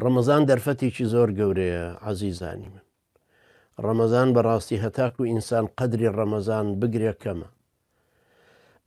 ڕەمەزان دەرفەتێکی زۆر گەورەیە عزیزانی من ڕەمەزان بەڕاستی هەتاکو و ئینسان قەدری ڕەمەزان بگرێ کەمە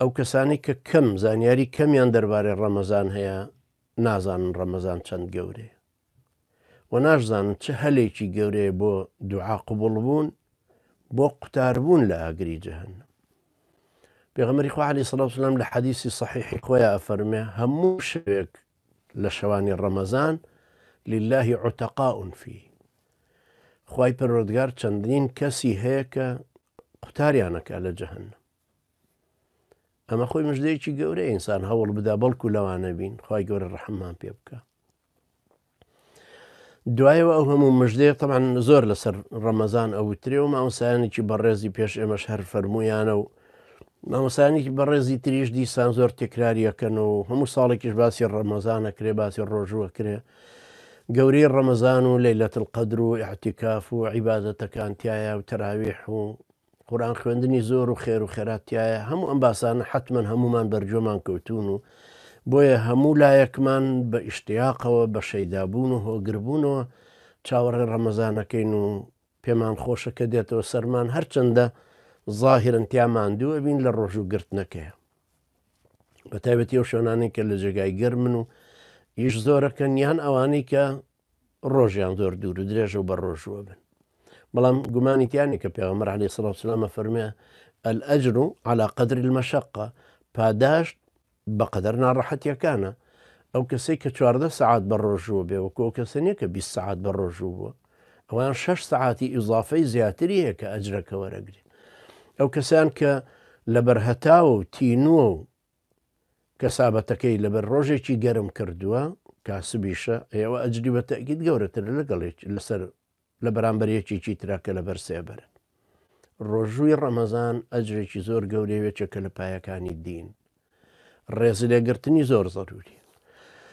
ئەو کەسانی کە کەم زانیاری کەمیان دەربارەی ڕەمەزان هەیە نازانن ڕەمەزان چەند گەورەیە و ناشزانن چه هەلێکی گەورەیە بۆ دوعا قوبڵ بوون بۆ قوتاربوون لە ئاگری جەهنم پێغمەری خوعالی سلام لە حەدیسی صحیحی خۆیان ئەفەرمێ هەموو شوێک لە شەوانی ڕەمەزان للە عتقاء فی خوای پەروەردگار چەندین کەسی هەیە کە قوتاریانەکە لە جەهنم ئەمە خۆی مژدەیەکی گەورە ئینسان هەوڵ بدا بەڵکو لەوانە بین خی گەورە ڕحممان پێ بکە دوایەوە ئەو هەموو مژدەیە تەبان زۆر لەسەر ڕەمەزان ئەوترێ و مامۆسایانێکی بەڕێزی پێش ئێمەش هەر فەرمویانە و مامۆسایانێکی بەڕێزی تریش دیسان زۆر تێکراریەکەن و هەموو ساڵێکیش باسی ڕەمەزانە کرێ باسی ڕۆژووە کرێ گەورەی ڕەمەزان و لەیلەت القدر و احتیکاف و عیباەتەکان تایە و تەراویح و قورئان خوێندنی زۆر و خێر و خێرات تایە هەموو ئەم باسانە حتمما هەمومان بەرجۆمان کەوتون و بۆیە هەموو لایەکمان بە ئیشتیاقەوە بە شەیدابوون و هۆگربوونەوە چاوەڕێ ڕەمەزانەکەین و پێمان خۆشە کە دێتەوە سەرمان هەرچەندە ظاهرن تیا ماندووە بین لە ڕۆژ و گرتنەکەیە بە تایبەتی و شوێنانی کە لە جێگای گەرمن و ئیش زۆرەکەن یان ئەوانەی کە ڕۆژیان زۆر دوور و درێژە و بە ڕۆژووە بن بەڵام گومانی تیانی کە پێغەمبەر علی سڵ سلامە فەرمێ ئەلئەجر و علا قدری المەشقە پاداشت بە قەدەر ناڕەحەتیەکانە ئەو کەسەی کە چواردە سعات بە ڕۆژووە بێ وەکۆ کەسە نیە کە 20 سعات بە ڕۆژوو بووە ئەوان 6 سعاتی ئیزافەی زیاتری هەیە کە ئەجرەکە وەرەگری ئەو کەسیان کە لە بەرهەتاوە و تینووە و کەسابەتەکەی لەبەر ڕۆژێکی گەرم کردووە، کاسبیشە، ئەوە ئەجری بە تەئکید گەورەترە لەگەڵ یەک لەسەر لە بەرامبەر یەکێکی ترا کە لەبەر سێبەرە. ڕۆژووی ڕەمەزان ئەجرێکی زۆر گەورەیە و یەکێکە لە پایەکانی دین. ڕێزلێگرتنی زۆر زەرووریە.